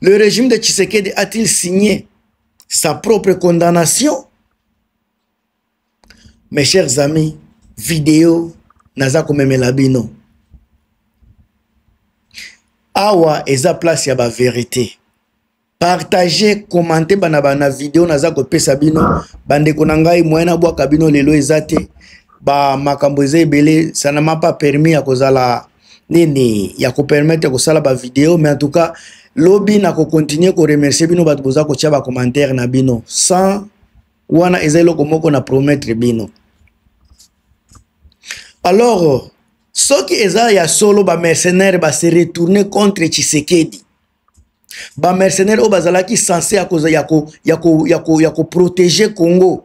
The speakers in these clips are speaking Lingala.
Le régime de Tshisekedi a-t-il signé sa propre condamnation Mes chers amis, vidéo naza komemela bino. Awa eza place ya ba vérité. Partagez, commentez bana bana vidéo naza kopesa bino bandeko na ngai moyen na bwaka bino lelo eza te. Ba makambo eza ebele, ça n'a pas permis ya kozala nini ya kopermettre kosala bavideo mais en tout cas lobi na kocontinue koremercie bino bato boza kotya bacommentaire na bino sans wana eza eloko moko na promettre bino alors soki eza ya solo bamercenaire base retourne contre tshisekedi bamercenaire oyo bazalaki sense ya koprotege congo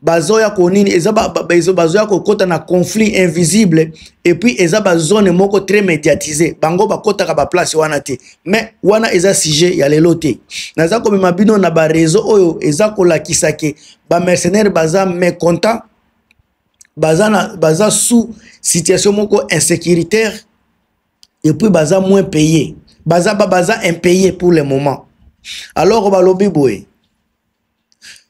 bazoya ko nini eza bazoya kokota na conflit invisible et puis eza bazone moko très médiatise bango bakotaka baplace wana te mais wana eza sujet ya lelo te naza komema bino na bareseau oyo eza kolakisa ke bamercenaire baza mécontent baza, na, baza sous situation moko insécuritaire et puis baza moins payé baza, baza impayé pour le moment alors balobi boye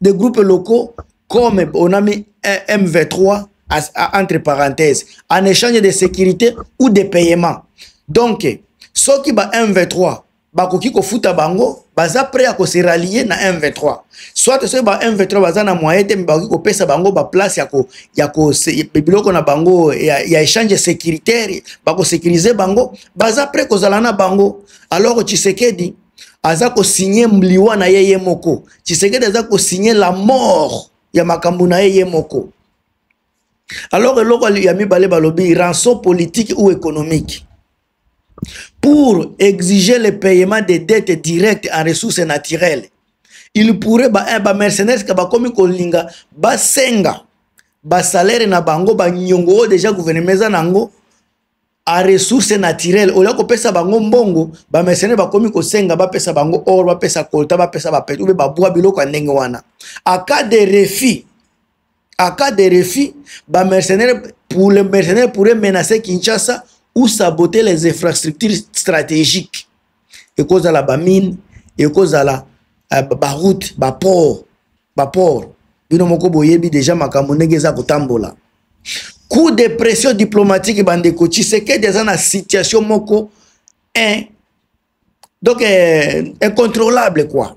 des groupes locaux comme on a mis un MV3 entre parenthèses en échange de sécurité ou de paiement donc soki ba MV3 bakoki kofuta bango baza prêt ya kose rallier na M23 soit soki ba M23 baza na moyen te me bakoki kopesa bango baplace ya, ko, ya ko, biloko na bango ya, ya échange sécuritaire bakosécurise bango baza prêt kozala na bango alors tshisekedi aza kosigne liwa na ye ye moko tshisekedi aza kosigne la mort ya makambo na ye ye moko alors eloko ya mibale balobi rançon politique ou économique pour exiger le paiement des dettes directes en ressources naturelles il pourrait bamercenaires ba eh, bakomi kolinga basenga basalaire na bango banyongo oyo deja gouvernement eza na yango a ressource naturelle olia kopesa bango mbongo bamesene bakomi kosenga bapesa bango or bapesa kolta bapesa bapete ube babwa biloko ya ndenge wana aka de refus aka de refus bamercenaire pour le mercenaire pourrait menacer kinshasa ou saboter les infrastructures stratégiques ekozala bamine ekozala eh, baroute baport baport bino moko boyebi deja makambo ndenge eza kotambola coup de pression diplomatique bandeko tshisekedi aza na situation moko un donc eh, incontrôlable quoi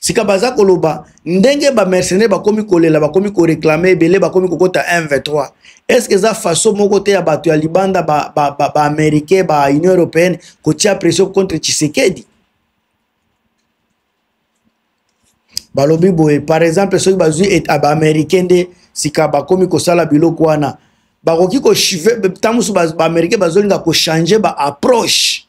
sika baza koloba ndenge bamercenaire bakomi kolela bakomi koreklame ebele bakomi kokota 1 23 estce eza façon moko te ya bato ya libanda baaméricain ba, ba, ba union européenne kotia pression contre tshisekedi balobi boye par exemple soki bazwi ah, baaméricain nde sika bakomi kosala biloko wana bakoki ntango mosusu baaméricain bazolinga kochange baapproche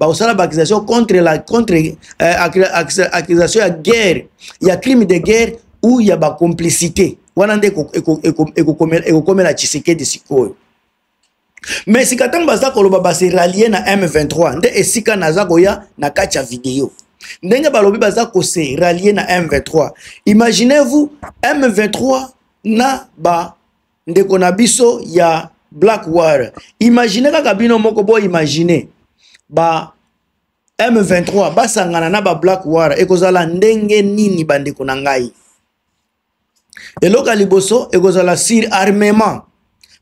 bakosala baaccusation contre la contre euh, accusation ya guerre ya crime de guerre ou ya bacomplicité wana nde ekokomela tshisekedi sikoyo me sika ntango baza koloba base ralie na m23 nde esika naza koya na kati ya video ndenge balobi baza kose ralie na m23 imaginez vous m23 na ba ndeko na biso ya black war imagine kaka bino moko bo imagine ba m23 basangana na ba black war ekozala ndenge nini bandeko na ngai eloko ya liboso ekozala sur armement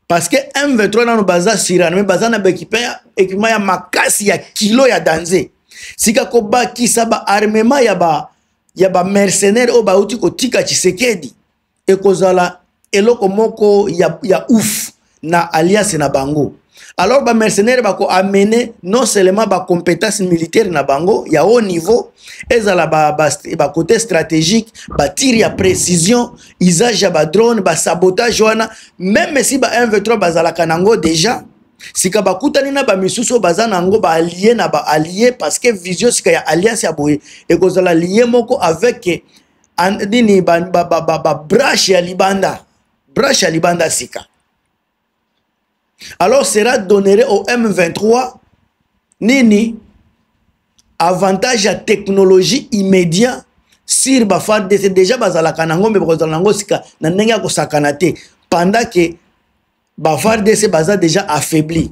parce que m23 nano baza sur arme baza na baekipema ya makasi ya kilo ya danze sika kobakisa baarmement ya ba ya bamercenaire oyo bauti kotika tshisekedi ekozala eloko moko ya, ya ouf na alliance na bango alors bamercenaire bakoamene non seulement bacompétence militaire na bango ya haut niveau ezala bacoté ba, ba stratégique batire ya précision usage ya badrone basabotage wana meme si ba 1v3 bazalaka nango déjà sika bakutani na bamisusu oyo baza na yango baalie na baalie parce que vision sika ya alliance ya boye ekozala lie moko avec nini babrashe ya libanda brashe ya libanda sika alors sera donnere au m23 nini avantage ya technologie immédiat sur bafardc déjà bazalaka nango me bakozala nango sika na ndenge ya kosakana te pendant ke bafardc baza déjà affaibli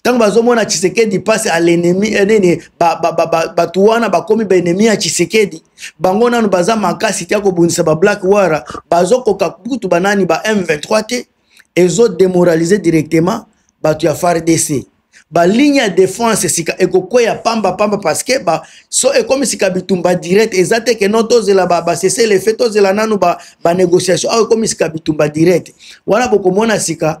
ntango bazomona tshisekedi mpasi a lenemi eh, nini bato wana bakomi baenemi ya tshisekedi bango nano baza makasi te ya kobundisa bablack wara bazokoka kutu banani ba m23 te ezodemoralize directement bato ya fardc baligne ya defense sika ekokweya pamba pamba parceke ba, so ekomi sika bitumba direct eza te ke no tozela basesele fe tozela nanu banégociation ba awa ekomi sika bitumba direct wana bokomona sika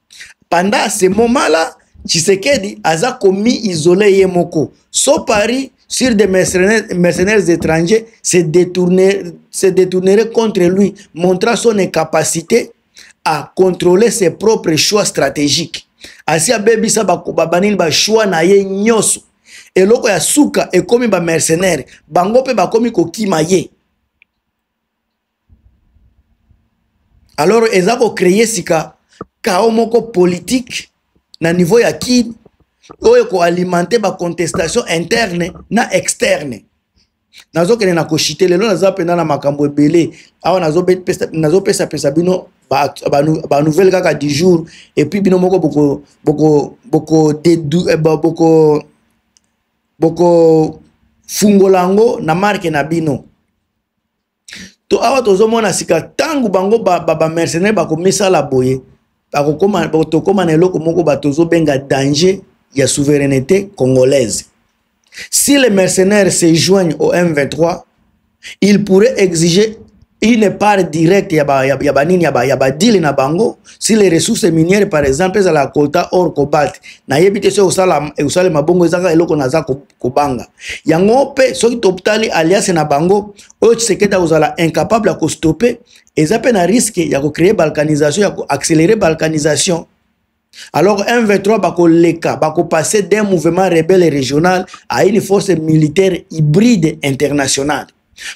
pendant ce moment là tshisekedi aza komi isole ye moko so paris sur des mercenaires, mercenaires étrangers se, détourner, se détournerait contre lui, montrant son incapacité à contrôler ses propres choix stratégiques. asi abebisa babanini bachoix na ye nyonso eloko ya suka ekomi bamercenaire bango mpe bakomi kokima ye alors eza kocreye sika kao moko politike na niveau ya kin oyo ekoalimente bacontestation interne na externe nazokende na koshite lelo naza mpenza na makambo ebele awa nazopesapesa bino banouvelle ba, ba kaka du jour epuis bino moko boko boko boko dedu, eh, boko boko fungola yango na marke na bino to awa tozomona sika ntango bango bamercenaire ba, ba bakomisala boye tokóma na eloko moko bato ozobenga danger ya souveraineté congolaise si les mercenaires se joignent au m23 il pourrait exiger une part directe ya banini ya, ba nini, ya, ba, ya badile na bango si les ressources minières par exemple ezala kota or cobalt nayebi te soki osalema bongo ezaka eloko naza kobanga yango mpe soki totali alliance na bango oyo tshisekedi akozala incapable ya kostope eza mpe na riske ya kocreye balkanisation ya koaccelere balkanisation alors m23 bakoleka bakopase d'un mouvement rebelle régional à une force militaire hybride internationale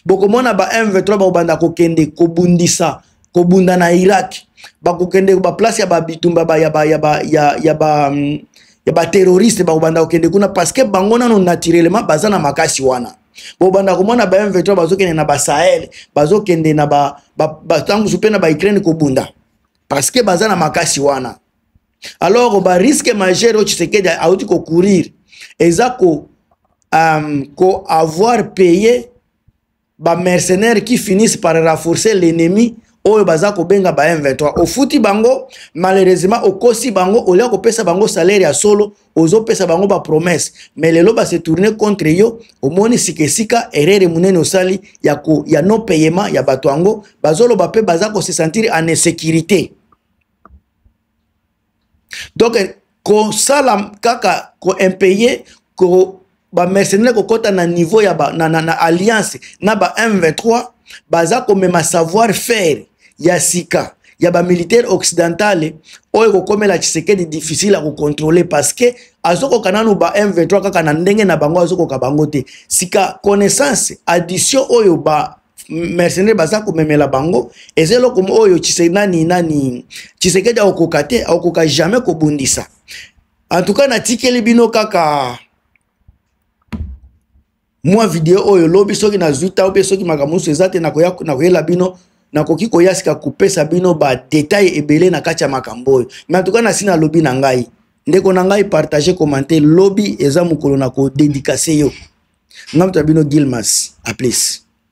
bokomona ba m23 bakobanda kokende kobundisa kobunda na irak bakokende baplace ya babitumba ba, ya, ba, ya, ba, ya, ya, ba, mm, ya baterroriste bakobanda kokende kuna parceke bango nano naturellement baza na makasi wana bobanda komona ba m23 bazokende na basahel bazokende na batangusu ba, ba, mpe na baukraine kobunda parceke baza na makasi wana alors ba risque majeur oyo tshisekedi auti kocourir eza ko um, ko avoir paye bamercenaire qui finissent par renforcer l'ennemi oyo baza kobenga ba m23 ofuti bango malheureusement okosi bango olia kopesa bango salaire ya solo ozopesa bango bapromesse mais lelo base tourne contre yo omoni sika esika erreur monene osali ya, ko, ya non payement ya bato yango bazoloba mpe baza kosesentir en insécurité donc kosala kaka koimpaye ko bamercenaire kokɔta na niveau ya ba, na, na, na alliance na ba m23 baza komema savoir faire ya sika ya bamilitaire occidentale oyo ekokomela tshisekedi difficile ya kocontrole parce que azokoka nanu ba m23 kaka na ndenge na bango azokoka bango te sika connaissance addition oyo ba mercenaire baza komemela bango eza eloko oyo chise nani nani chisekedi akokoka te akokoka jamais kobundisa en tout cas natikeli bino kaka mwa video oyo lobi soki nazwi tao mpe soki makambo mosusu eza te nakoyela bino nakoki koya sika kopesa bino badetail ebele na kati ya makambo oyo me en tout cas nasi nalobi na ngai ndeko na ngai partage commente lobi eza mokolo na kodedikase yo ngai moto ya bino gilmas aplis